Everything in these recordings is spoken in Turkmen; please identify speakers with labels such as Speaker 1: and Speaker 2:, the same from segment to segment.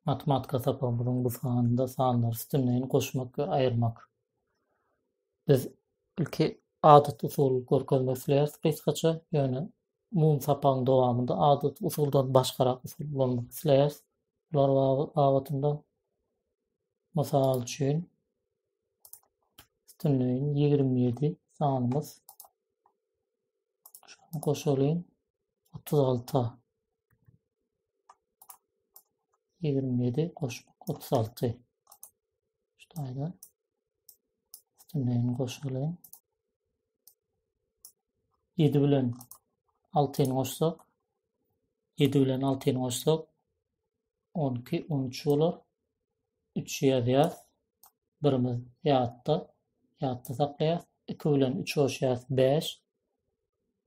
Speaker 1: Matematika sapagymyzyň bu sanynda sanlary üstünleýin goşmak we aýyrmak. Biz ilki adaty usuly görkezmek isleýäris gysgaça, ýöne umumy sapagyň dowamynda adaty usuldan başgarak usul ulanmak isleýäris. Bular babatynda mysal üçin üstünleýin 27 sanymyz. Şuny goşalyň. otuz alty ýigrimi ýedi goşmak otuz alty ştaýda üstünleýin goşalyň ýedi bilen altyny goşsak ýedi bilen altyny goşsak on iki on üç bolar üç ýazýar birimiz ýatda ýatda saklaýar iki bilen üç goşýar bäş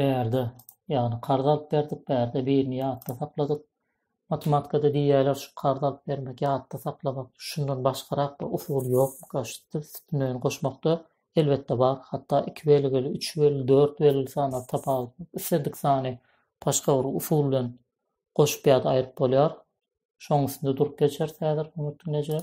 Speaker 1: bärde, ýagny karz alyp berdik, bärde birini ýatda sakladyk. Matematikada diýýärler, şu karz alyp bermek, ýatda saklamak, şundan başgarak bir usul ýokmyka, üstünden goşmakda? Elbetde bar, hatda iki belgili, üç belgili, dört belgili sanlar tapawutly, islendik sany başga bir usul bilen goşup ýa-da aýryp bolýar. Şonuň üstünde durup geçeris häzir, hormatly diňleýjiler.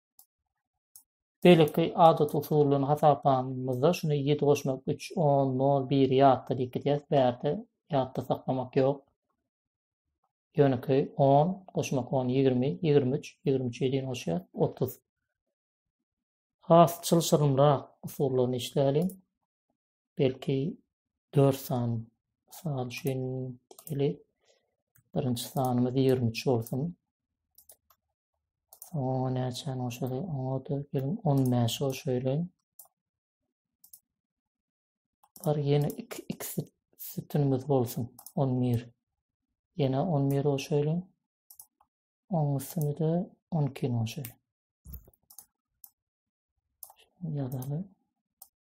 Speaker 1: Beýleki adat usullaryny hasaplamamyzda şuny ýedi goşmak üç, on, nol, biri ýatda diýip gidýäs. Bärde ýatda saklamak ýok. Ýönekeý on goşmak on ýigrimi, ýigrimi üç, ýigrimi üçe deýin goşýas, otuz. Has çylşyrymrak usullaryny işläliň. belki dört sany mysal üçin diýeli birinji sanymyz ýigrimi üç bolsun oňa näçäni goşaly oňa da geliň on bäşi goşaýlaý bar ýene iki ikisi sütünimiz bolsun on bir ýene on bir goşaýlaý oň üstüne de on ikini goşaýlaý ýazaly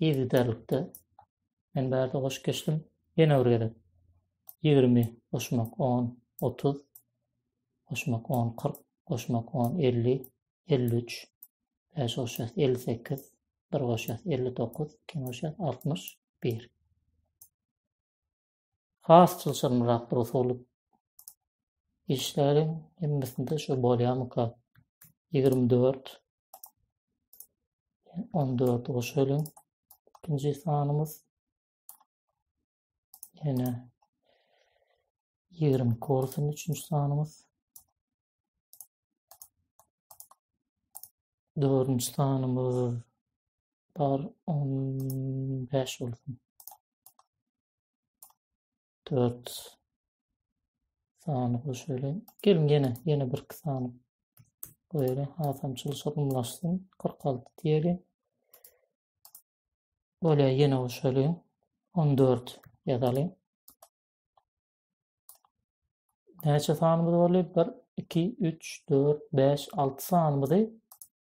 Speaker 1: yzygiderlikde men bärde goşup geçdim. Ýene bir gezek. Ýigrimi goşmak on, otuz. Goşmak on, kyrk. Goşmak on, elli. Elli üç. Bäş goşýas, elli sekiz. Bir goşýas, elli dokuz. Iki goşýas, altmyş bir. has çylşyrymrakdyr usulyp işleriň hemmesinde şu bolýamyka ýigrimi dört on dört goşalyň ikinji sanymyz ýene ýigrimi iki üçünji sanymyz dördünji sanymyz Bar on bäş bolsun. Dört sany goşaýly. Gelin ýene, ýene bir iki sany goýaly. Hasam çylşa gymlaşsyn. Kyrk alty diýeli. Bolýa ýene goşaýly. On dört ýazaly. Näçe sanymyz bolýar? Bir, iki, üç, dört, bäş, alty sanymyzy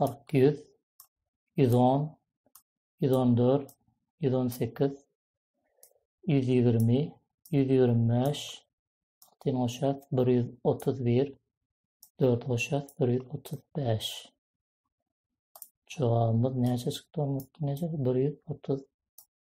Speaker 1: kyrk, ýüz, ýüz on, ýüz on dört, ýüz on sekiz, ýüz ýigrimi, ýüz ýigrimi bäş, altyn goşas, bir ýüz otuz bir, dört goşas, bir ýüz otuz bäş. Jogabymyz näçe çykdy, Onmutdin eje? Bir ýüz otuz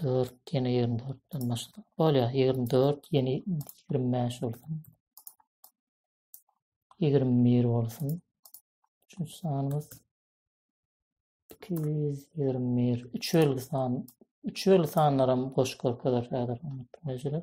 Speaker 1: Dört, ýene ýigrimi dörtden başladyk. Bolýar, ýigrimi dört, ýene ýigrimi bäş bolsun. Ýigrimi bir bolsun. Üçünji sanymyz iki ýüz ýigrimi bir. Üç belgi san, üç belgi sanlaram goşup görkezer häzir. Näçeler?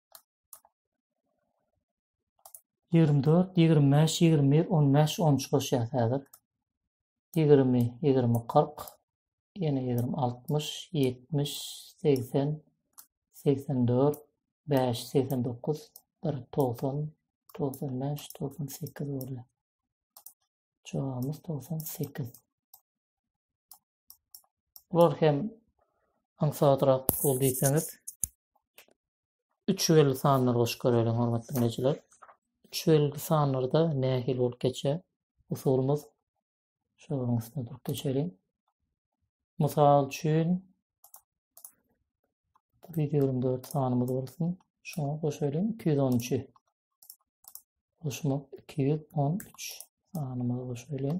Speaker 1: Ýigrimi dört, ýigrimi bäş, ýigrimi bir, on bäş, on üç goşýas häzir. Ýigrimi, ýigrimi, kyrk, ýene ýigrimi, altmyş, ýetmiş, segsen, segsen dört, bäş, segsen dokuz, bir, togsan, togsan bäş, togsan sekiz bolýar. Jogabymyz togsan sekiz. Bular hem aňsadrak bol diýseňiz. 3 belli sanlar goşup göreliň hormatly dinleýjiler. 3 belli sanlarda nähili bolup geçýär? Usulymyz şu üstüne durup geçeliň. Mysal üçin 124 sanymyz bolsun. Şoňa goşalyň 213-i. Goşmak 213 sanymyzy goşalyň.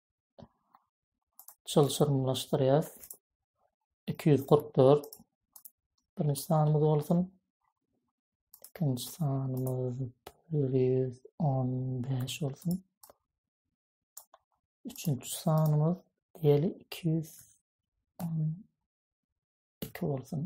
Speaker 1: çylşyrymlaşdyrýas. Iki ýüz kyrk dört birinji sanymyz bolsun. Ikinji sanymyz bir ýüz on beş bolsun. Üçünji sanymyz diýeli iki ýüz on iki bolsun.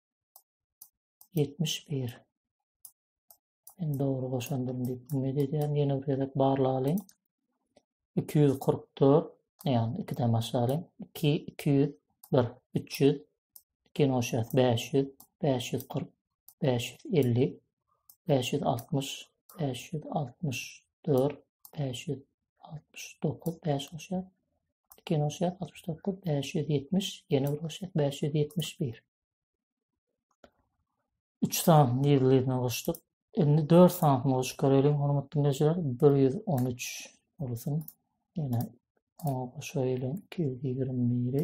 Speaker 1: Ýetmiş bir. Men dogry goşandyryn diýip umyt edýärin. Ýene bir gezek barlalyň. Iki ýüz kyrk dört. Ýagny ikiden başlalyň. Iki, iki ýüz bir, üç ýüz. Ikini goşýas, bäş ýüz, bäş ýüz kyrk, bäş ýüz elli, bäş ýüz altmyş, bäş ýüz altmyş dört, bäş ýüz altmyş dokuz, bäş goşýar, iki ýene goşýar, altmyş dokuz, bäş ýüz ýetmiş, ýene bir goşýar, bäş ýüz ýetmiş bir. Üç sany nirlirini goşduk. Indi dört sanyny goşup görelim, hormatly diňleýjiler. Bir ýüz on üç bolsun. Ýene oňa goşaýylyň iki ýüz ýigrimi biri.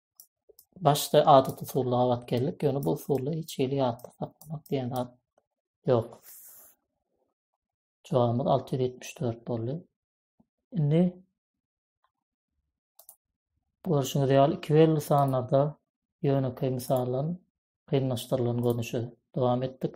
Speaker 1: başda adaty usulla gabat geldik, ýöne bu usulda hiç hili ýatda saklamak diýen zat ýok. Jogabymyz 674 boldy. Indi görşüňiz ýaly iki belli sanlarda ýönekeý mysallaryň kynlaşdyrylan görnüşi dowam etdik.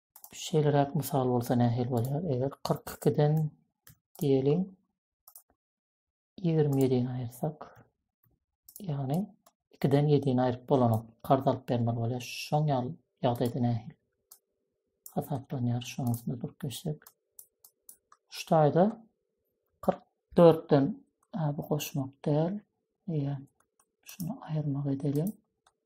Speaker 1: Şeýleräk mysal bolsa nähili bolýar? Eger 42-den diýeliň 27-ni aýyrsak, ýagny 2-den 7-ni aýryp bolanok. Karz alyp bermeli bolýar. Şoň ýaly ýagdaýda nähili hasaplanýar? Şonuň üstünde durup geçsek. Şu taýda 44-den bu goşmak däl. Eýe, şunu aýyrmak edelim.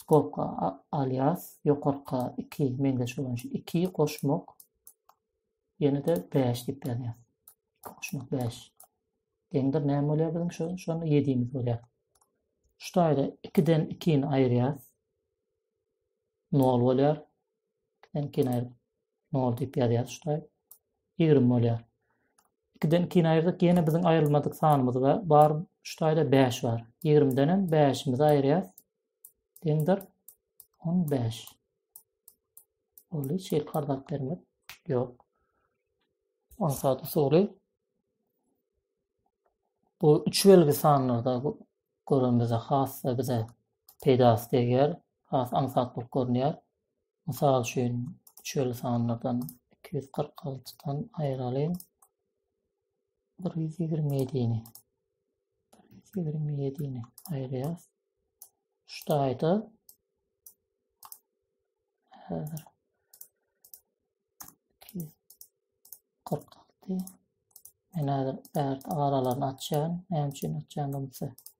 Speaker 1: Skobka alias ýokarka iki meňzeş bolan şu iki goşmak ýene-de bäş diýip ýazýar. Iki goşmak bäş. Deňdir näme bolýar biziň şu şony ýedimiz bolýar. Şu taýda ikiden ikini aýyrýar. Nol bolýar. Ikiden ikini aýryp nol diýip ýazýar şuday. Ýigrimi bolýar. Ikiden ikini aýyrdyk, ýene biziň aýrylmadyk sanymyz bar. Bar şudaýda bäş bar. Ýigrimden hem bäşimizi aýyrýas. Deňdir. On bäş. Ol hiç ýer kardap bermek. Ýok. On saat usuly. Bu üç belgi sanlarda göremizde has da bize peýdasy degýär. Has aňsat bolup görünýär. Mysal üçin, şeýle sanlardan iki ýüz kyrk altydan aýyralyň bir ýüz ýigrimi ýedini. Bir ýüz ýigrimi ýedini aýyrýas. Şu taýda häzir iki ýüz kyrk alty Men häzir bärde aralaryny açýan. Näme üçin açýan bolsa,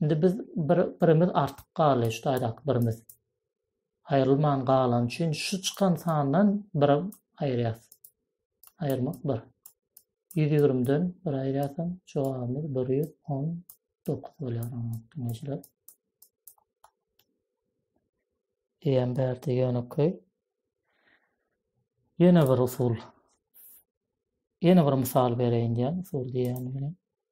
Speaker 1: Indi biz bir birimiz artyk galy şu taýdaky birimiz. Aýrylman galan üçin şu çykan sandan bir aýyrýas. Aýyrmak 1. 120-den bir aýyrýasam jogabymyz 119 bolýar. Diňejiler. Diýen bärde ýönekeý. Ýene bir usul. Ýene bir mysal bereýin diýen usul diýen bilen.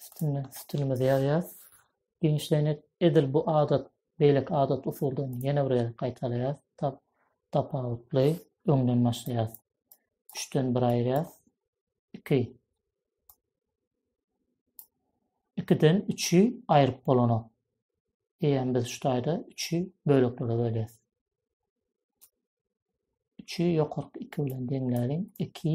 Speaker 1: Üstünde stilimizi ýazýas. Giňişleýin edil bu adat, beýleki adat usuldan ýene bir gezek gaýtalaýas. Tap, tapawutly öňden başlaýas. Üçden bir aýyrýas. Iki. Ikiden üçi aýryp bolanok. Eýýäm biz şu taýda üçi böleklere bölýäs. Üçi ýokarky iki bilen deňläliň. Iki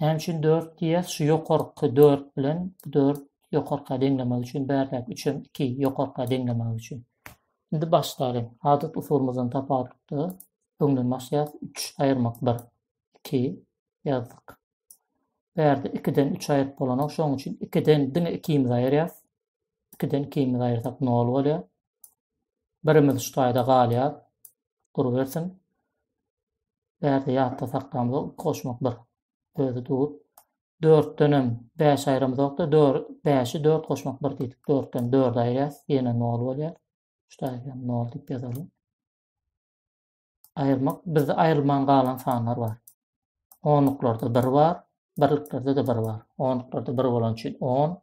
Speaker 1: Näme üçin dört diýýäs? Şu ýokarky dört bilen bu dört ýokarka deňlemek üçin, bärdäki üç hem iki ýokarka deňlemek üçin. Indi başlalyň. Adat usulymyzdan tapawutlykda öňden başlaýas. Üç aýyrmak bir. Iki ýazdyk. Bärde ikiden üç aýryp bolanok. Şonuň üçin ikiden diňe ikimizi aýyrýas. Ikiden ikimizi aýyrsak nol bolýar. Birimiz şu taýda galýar. Durubersin. bärde ýatda saklamyza üns goşmak bir özi dur. Dörtdenem bäş aýramyzokda, dör, bäşi dört goşmak bir diýdik. Dörtden dördi aýyrýas, ýene nol bolýar. Şu taýdan nol diýip ýazalyň. Aýyrmak, bizde aýrylman galan sanlar bar. Onluklarda bir bar, birliklerde-de bir bar. Onluklarda bir bolan üçin on,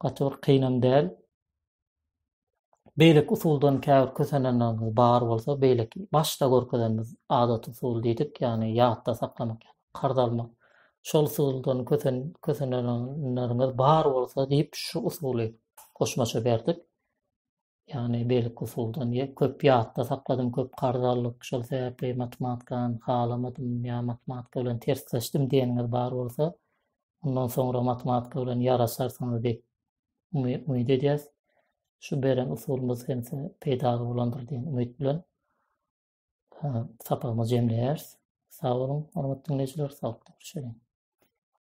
Speaker 1: gaty bir kynam däl. Beýleki usuldan käbir kösenenlerimiz bar bolsa, beýleki başda görkezenimiz adat usul diýdik, ýagny ýatda saklamak, karz almak. Şol usuldan kösen kösenenlerimiz bar bolsa diýip, şu usuly goşmaça berdik. Ýagny beýleki usuldan ýe köp ýatda sakladym, köp karz aldyk, şol sebäpli matematikany halamadym ýa matematika bilen tersleşdim diýeniňiz bar bolsa, mundan soňra matematika bilen ýaraşarsyňyz diýip umyt edýäs. Şu beren usulymyz hem size peýdaly bolandyr diýen umyt bilen sapagymyzy jemleýäris. Sag boluň, hormatly diňleýjiler, saglyk, görüşeliň.